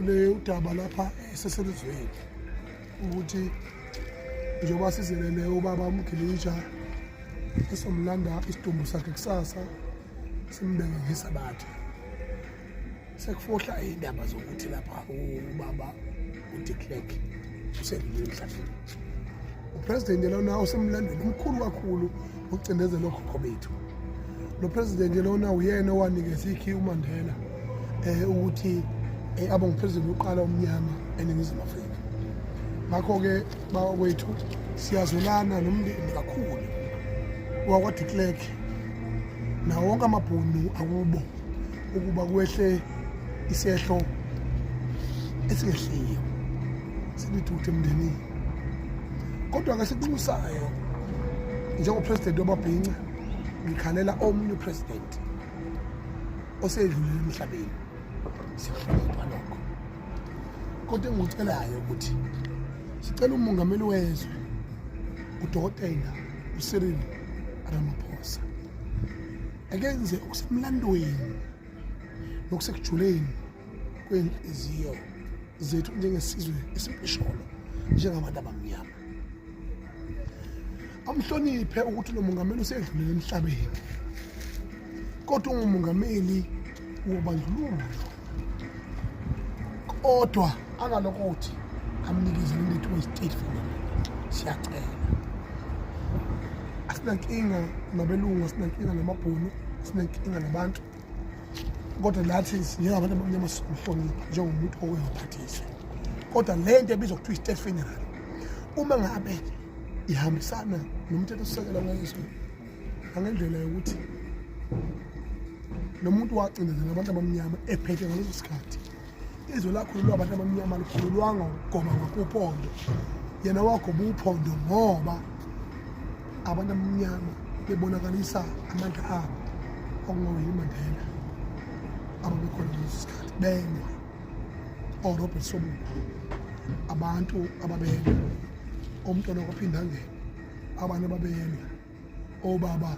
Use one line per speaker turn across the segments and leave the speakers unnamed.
le udaba lapha eseselizweni ukuthi njengoba sizelele ubaba umgilija esomlanda isidumbu sakhe kusasa simbeke ngesabatha sekufohla iy'ndaba zokuthi lapha ubaba udeclerk usedlule emhlabeni upresidenti lona osemlandweni omkhulu kakhulu wokucindezela okhokho bethu lo presidenti lona uyena owanikeza ikhi umandela um ukuthi um abe ngupresidenti wokuqala omnyama eningizimu afrika ngakho-ke bakwethu siyazwelana nomndeni kakhulu wakwadeclerk nawo wonke amabhunu akubo ukuba kwehle isehlo esingehliyo silithuthe emndenini kodwa ke sikunxusayo njengopresident wamabhinca ngikhalela omunye upresident osedlulile emhlabeni sikuhlonipha lokho kodwa engikucelayo ukuthi sicela umongameli wezwe udokotela usirili ramaphosa akenze okusemlandweni nokusekujuleni kwenhliziyo zethu njengesizwe esimpisholo njengabantu abamnyama amhloniphe ukuthi lo mongameli usedlulele emhlabeni kodwa ungumongameli wobandlululo kodwa angalokothi amnikeze limithi westate fundamental siyacela asinankinga nabelungu asinankinga namabhunu asinankinga nabantu kodwa nathi njengabantu abamnyama sihlonipha njengomuntu owengaphathise kodwa le nto ebizwa kuthiwa i-state funeral uma ngabe ihambisana nomthetho sisekela ngezwe angendlela yokuthi lo muntu wacindezela abantu abamnyama ephethe ngaleso sikhathi izwe lakhululwa abantu abamnyama likhululwanga ukugoma ngakuphondo yena wagoba uphondo ngoba abantu abamnyama bebonakalisa amandla abo okungaweli mandela ababekhona ngaleso sikhathi benye orobert sobuku abantu ababele omntwana kwaphindangena abanye ababeyeni obaba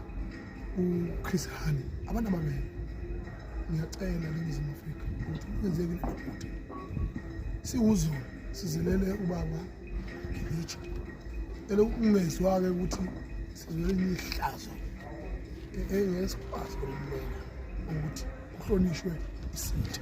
uChris Hani abantu ababeyeni ngiyacela leNingizimu Afrika ukuthi kwenzeke lento siwuzulu sizelele ubaba ngiyitsho elo ungezwake ukuthi sizwele ihlazo engesikwazi ukumela ukuthi kuhlonishwe isitha